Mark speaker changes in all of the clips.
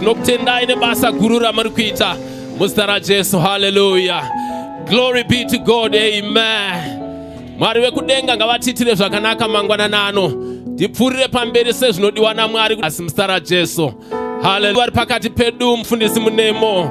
Speaker 1: Tinokutendai nebasa guru ramuri kuita muzita raJesu. Hallelujah. Glory be to God. Amen. Mwari vekudenga ngavatiitire zvakanaka mangwanani ano. Tipfuurire pamberi sezvinodiwa naMwari asi muzita raJesu. Hallelujah. Vari pakati pedu mufundisi munemo.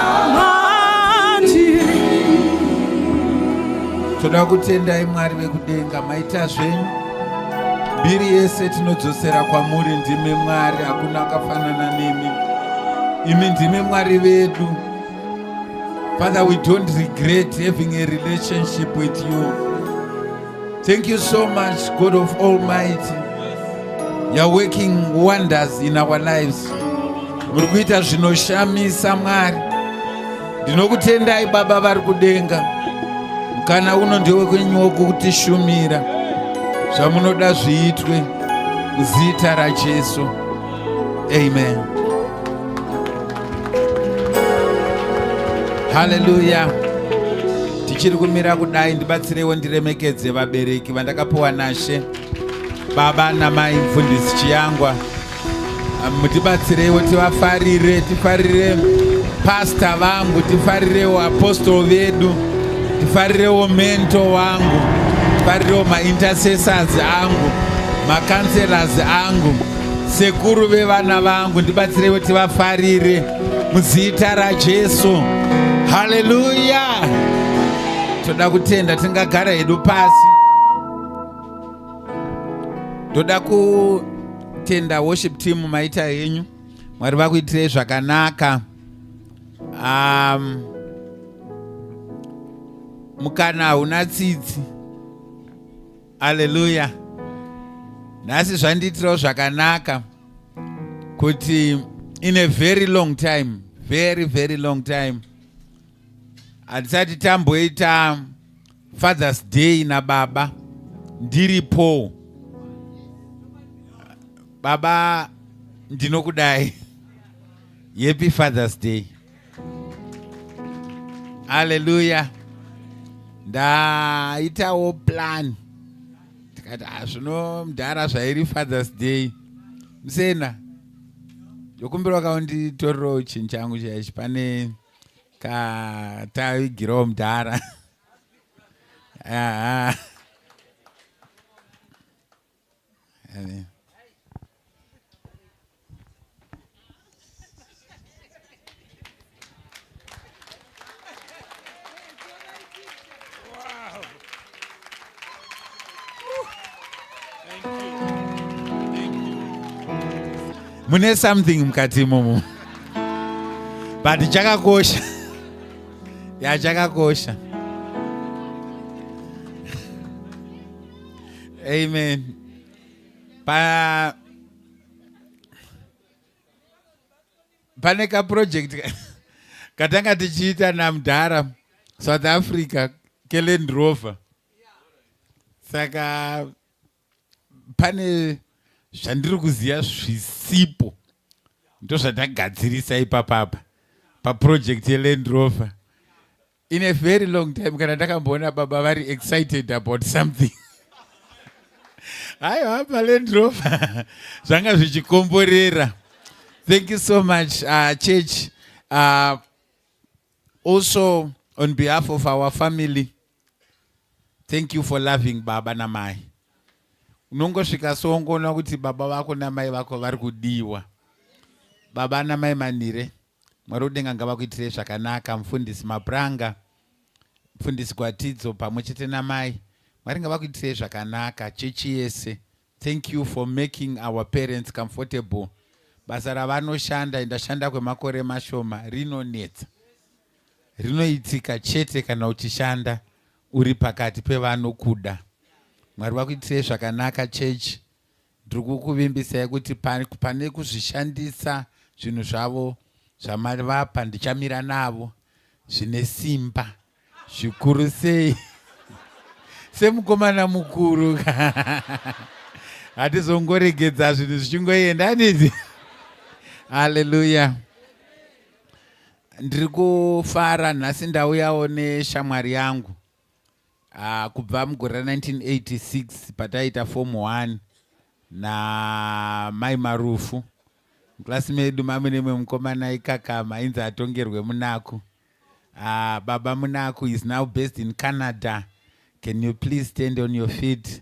Speaker 2: toda kutendai mwari vekudenga maita zvenyu mbiri yese tinodzosera kwamuri ndimi mwari hakuna akafanana nemi imi ndimi mwari vedu father we don't regret having a relationship with you Thank you so much, God of Almighty. You're working wonders in our lives. Muri kuita zvinoshamisa Mwari. Ndinokutendai Baba vari kudenga. Kana uno ndewe kwenyuwo kutishumira. Zvamunoda zviitwe muzita raJesu. Amen. Hallelujah. Tichiri kumira kudai ndibatsirewo ndiremekedze vabereki vandakapiwa nashe baba namai mfundisi Chiyangwa. Mutibatsirewo tivafarire, tifarire pasta vangu, tifarirewo apostol vedu, tifarirewo mento wangu, tifarirewo maintercessors angu, macancelas angu. Sekuru vevana vangu ndibatsireiwo tivafarire muzita raJesu. Haleluya. Toda kutenda tingagara hedu pasi. Toda kutenda worship team maita henyu. Mwari vakuitirei zvakanaka. Um, mukana hauna tsitsi. aleluya nhasi zvandiitirawo zvakanaka kuti in a very long time very very long time hatisati tamboita fathers day nababa ndiripo baba ndinokudai yepi fathers day haleluya ndaitawo plan tikati hazvino ah, mdhara zvairi fathers day musena ndokumbira waka unditorirewo chinhu changu chaichi pane katavigirawo mdhara Amen. mune something mukati imomo but chakakosha ya chakakosha amen pa pane kaproject katanga tichiita namdhara south africa keland rover saka pane zvandiri kuziva zvisipo ndozvatagadzirisa ipapapa paproject yeland rover in a very long time kana ndakamboona baba vari excited about something hayo hapa lendrover zvanga zvichikomborera thank you so much uh, church uh, also on behalf of our family thank you for loving baba namai unongosvika soongoona kuti baba vako namai vako vari kudiwa baba namai manire Mwari udenga ngavakuitirei zvakanaka mfundisi Mapranga, mfundisi Gwatidzo pamwe chete namai. Mwari ngavakuitirei zvakanaka chechi yese. Thank you for making our parents comfortable. Basa ravanoshanda indashanda kwemakore mashoma rinonetsa. Rinoitika chete kana uchishanda uri pakati pevanokuda. Mwari vakuitirei zvakanaka chechi. ndiri kukuvimbisai kuti pane kuzvishandisa zvinhu zvavo zvamari vapa ndichamira navo zvine simba zvikuru sei semukomana mukuru hatizongoregedza zvinhu zvichingoenda aniti haleluya ndiri kufara nhasi ndauyawo neshamwari yangu Ah, kubva mugore ra 1986 pataiita form 1 namai marufu muklasi medu mame nemwe mukomana ikakama ainzi atongerwe munaku ah, baba munaku is now based in canada can you please stand on your feet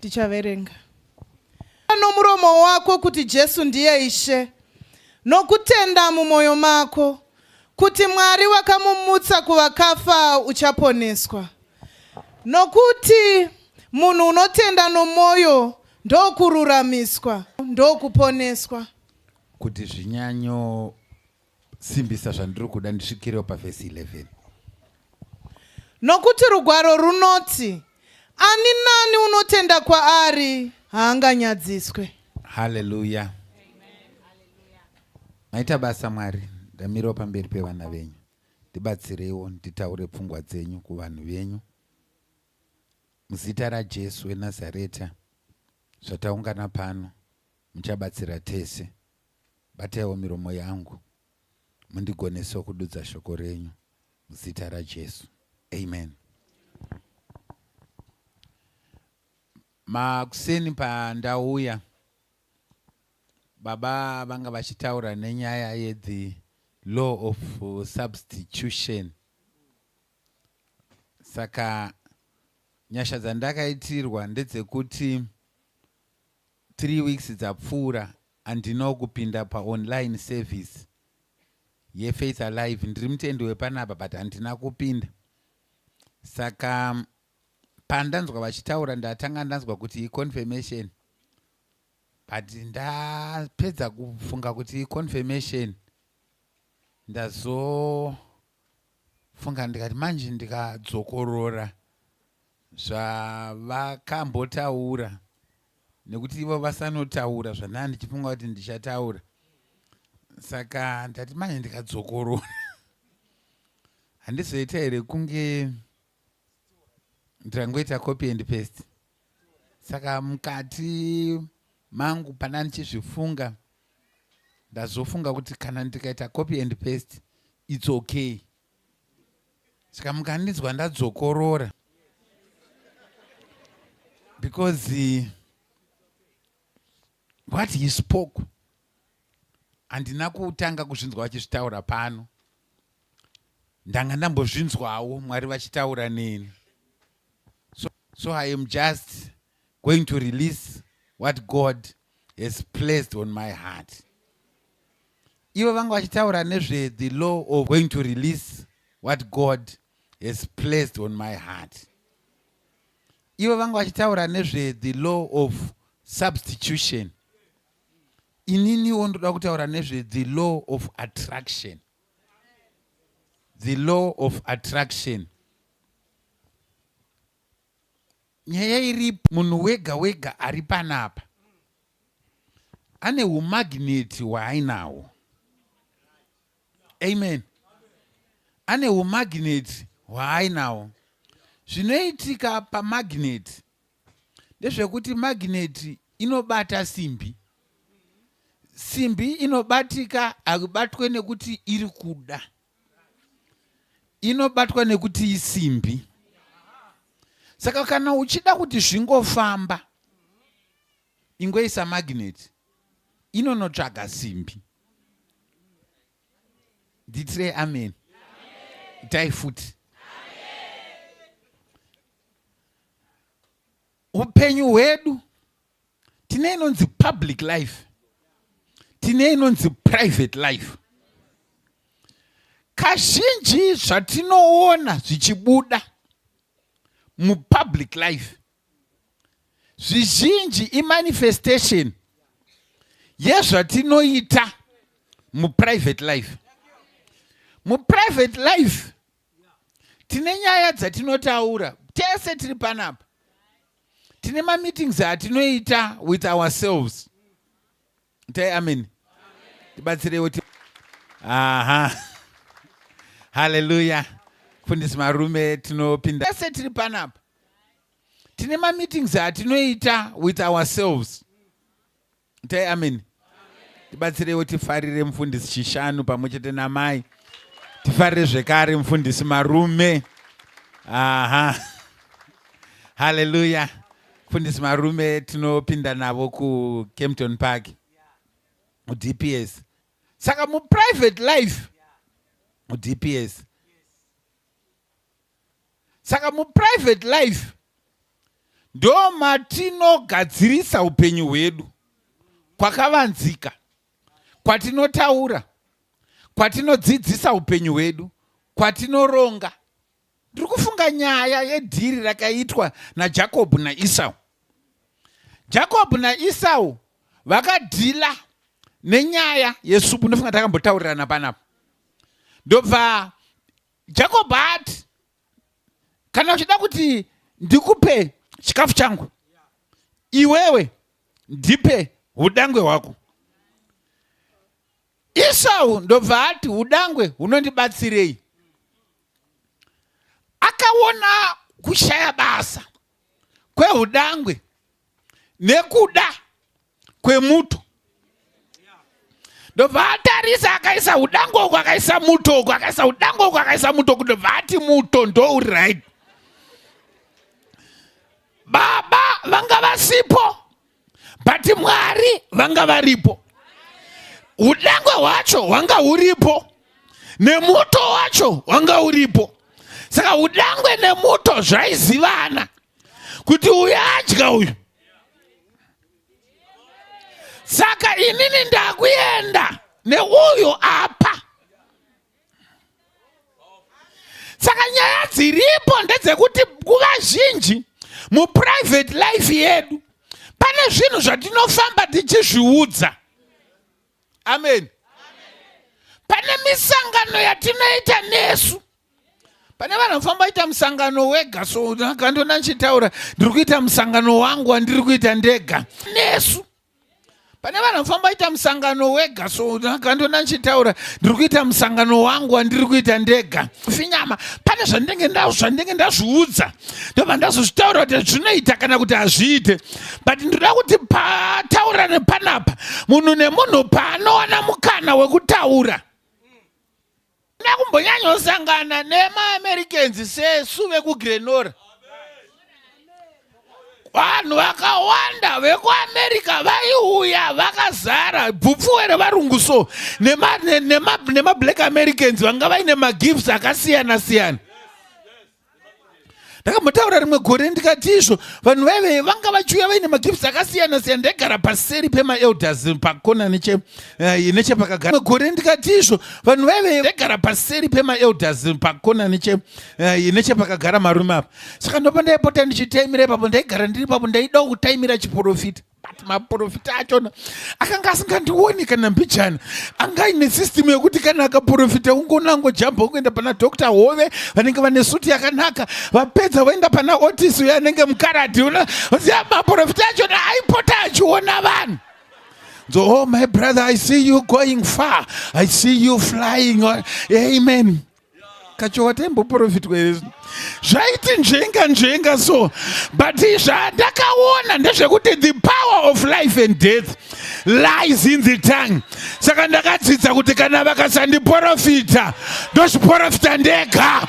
Speaker 3: tichaverenga nomuromo wako kuti Jesu ndiye Ishe nokutenda mumwoyo mako kuti Mwari wakamumutsa kuvakafa uchaponeswa. Nokuti munhu unotenda nomwoyo ndokururamiswa ndokuponeswa. Kuti
Speaker 2: zvinyanyo simbisa zvandiri kuda ndisvikirewo pavhesi 11
Speaker 3: nokuti rugwaro runoti ani nani unotenda kwaari haanganyadziswe haleluya
Speaker 2: maita basa mwari ndamirawo pamberi pevana venyu ndibatsireiwo nditaure pfungwa dzenyu kuvanhu venyu muzita rajesu wenazareta zvataungana pano muchabatsira tese Bataiwo miromo yangu mundigonesewo kududza shoko renyu muzita raJesu. Amen. Makuseni pandauya baba vanga vachitaura nenyaya yedhi law of substitution saka nyasha dzandakaitirwa ndedzekuti three weeks dzapfuura andino kupinda paonline service yefaith alive ndiri mutendi wepanapa but handina kupinda saka pandanzwa vachitaura ndatanga ndanzwa kuti iconfirmation but ndapedza kufunga kuti iconfirmation ndazo funga ndikati manje ndikadzokorora zvavakambotaura nekuti ivo vasanotaura zvandaa ndichifunga kuti ndichataura saka ndati manje ndikadzokorora handizoita here kunge ndirangoita copy and paste saka mukati mangu pana ndichizvifunga ndazofunga kuti kana ndikaita copy and paste its okay saka mukandinzwa ndadzokorora because uh, what he spoke handina kutanga kuzvinzwa vachizvitaura pano ndanga ndambozvinzwawo mwari vachitaura neni so, so i am just going to release what god has placed on my heart ivo vanga vachitaura nezve the law of going to release what god has placed on my heart ivo vanga vachitaura nezve the law of substitution ininiwo ndoda kutaura nezve the law of attraction the law of attraction nyaya iri munhu wega wega ari panapa ane umagneti hwaainawo amen ane umagneti hwaainawo zvinoitika pamagneti ndezvekuti magneti inobata simbi simbi inobatika akubatwe nekuti iri kuda inobatwa nekuti isimbi saka kana uchida kuti zvingofamba ingoisa magneti inonotsvaga simbi nditirei amen itai futi upenyu hwedu tine inonzi public life tine inonzi private life kazhinji zvatinoona zvichibuda mupublic life zvizhinji imanifestation yezvatinoita muprivate life muprivate life tine nyaya dzatinotaura tese tiri panapa tine mameetings atinoita with ourselves tai amen tibatsireiwo aha haleluya fundisi marume tinopinda tese tiri panapa tine mameetings atinoita with ourselves itai ameni tibatsireiwo tifarire mufundisi chishanu pamwe chete namai tifarire zvekare mufundisi marume aha haleluya mufundisi marume tinopinda navo kucampton park mudps saka muprivate life mudps saka muprivate life ndo matinogadzirisa upenyu hwedu kwakavanzika kwatinotaura kwatinodzidzisa upenyu hwedu kwatinoronga ndiri kufunga nyaya yedhiri rakaitwa najakobho naisau jakobho naisau vakadhila nenyaya yesupu ndofunga takambotaurirana panapa ndobva jacob ati kana uchida kuti ndikupe chikafu changu iwewe ndipe udangwe hwako isau ndobva ati udangwe hunondibatsirei akaona kushaya basa kweudangwe nekuda kwemuto ndobva atarisa akaisa udango uko akaisa muto uko akaisa udango uko akaisa muto uko ndobva ati muto ndo uri right baba vanga vasipo but mwari vanga varipo udango hwacho hwanga huripo nemuto wacho wanga uripo saka udangwe nemuto zvaizivana kuti uyu adya uyu saka inini ndakuenda neuyo apa saka nyaya dziripo ndedzekuti nguva zhinji muprivate life yedu pane zvinhu zvatinofamba tichizviudza amen pane misangano yatinoita nesu pane vanhu vafamba ita musangano wega so akandona ndichitaura ndiri kuita musangano wangu wandiri kuita ndega nesu pane vanhu vafamba ita musangano wega so akandona ndichitaura ndiri kuita musangano wangu wandiri kuita ndega finyama pane zvandinenge ndazvo zvandinenge ndazviudza ndobva ndazozvitaura kuti zvinoita kana kuti hazviite but ndinoda kuti pataurane panapa munhu nemunhu paanowana mukana wekutaura Handina kumbonyanyosangana nemaAmericans sesu vekuGrenora. Vanhu vakawanda vekuAmerica vaiuya vakazara bvupfuwe revarungu so nemablack nema, nema Americans vanga vaine magifts akasiyana siyana. ndakambotaura rimwe gore ndikati izvo vanhu vaive vanga vachiuya vaine magifts akasiyana siyana ndaigara paseri pemaelders pakona neche eh, nechepakagara gore ndikati izvo vanhu vaive ndaigara paseri pemaelders pakona neche eh, nechepakagara marume apa saka ndopa ndaipota ndichitaimira ipapo ndaigara ndiri papo ndaida kutaimira chiporofita but maporofita achona akanga asingandioni kana mbijana anga ine system yekuti kana akaporofita ungona angojamba kuenda pana dr hove vanenge vane suti yakanaka vapedza voenda pana otis uyo anenge mukaradhi una zia maporofita achona aipota achiona vanhu so oh my brother i see you going far i see you flying amen kachowa taimboprofitwa here zvino zvaiti nzvenga nzvenga so but zvandakaona ndezvekuti the power of life and death lies in the tongue saka ndakadzidza kuti kana vakasandiprofita ndozviprofita ndega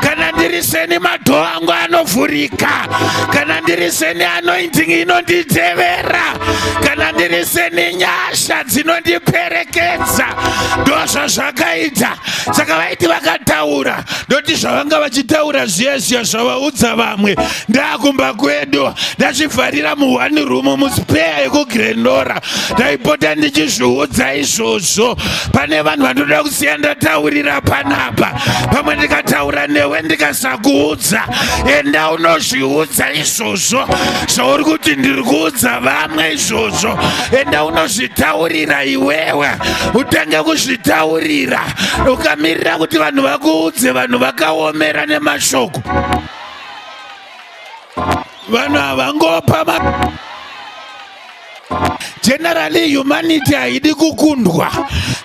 Speaker 2: kana ndiri seni madhoo angu anovhurika kana ndiri seni anointing inonditevera kana ndiri seni nyasha dzinondiperekedza ndozvo zvakaita saka vaiti vakataura ndoti zvavanga vachitaura zviya zviya zvavaudza vamwe ndakumba kwedu ndachivharira muone room muspeya yekugrendora ndaipota ndichizviudza izvozvo pane vanhu vanoda kusiya ndataurira panapa pamwe ndikataura newe ndikasakuudza enda unozviudza izvozvo zvauri kuti ndiri kuudza vamwe izvozvo enda unozvitaurira iwewe utange kuzvitaurira ukamirira kuti vanhu vakuudze vanhu vakaomera nemashoko vanhu havangopa Generally humanity haidi kukundwa.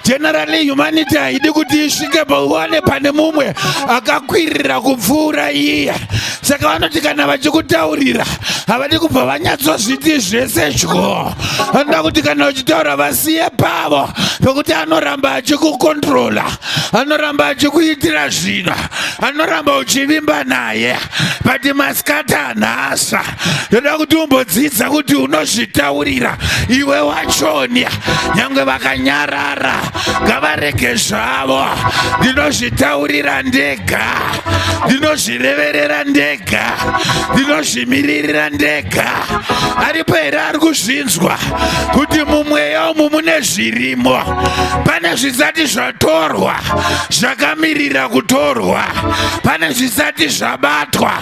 Speaker 2: Generally humanity haidi kuti isvike pauwane pane mumwe akakwirira kupfuura iye. Saka vanoti kana vachikutaurira havadi kubva vanyatsozviti zvese dyo. Vanoda kuti kana uchitaura vasiye pavo pekuti anoramba achikukontrola, anoramba achikuitira zvino, anoramba uchivimba naye. But maskata nhasa. ndoda kuti umbodzidza kuti unozvitaurira iwe wachonya nyange vakanyarara ngavarege zvavo ndinozvitaurira ndega ndinozvireverera ndega ndinozvimiririra ndega aripo here ari kuzvinzwa kuti mumweya umu mune zvirimo pane zvisati zvatorwa zvakamirira kutorwa pane zvisati zvabatwa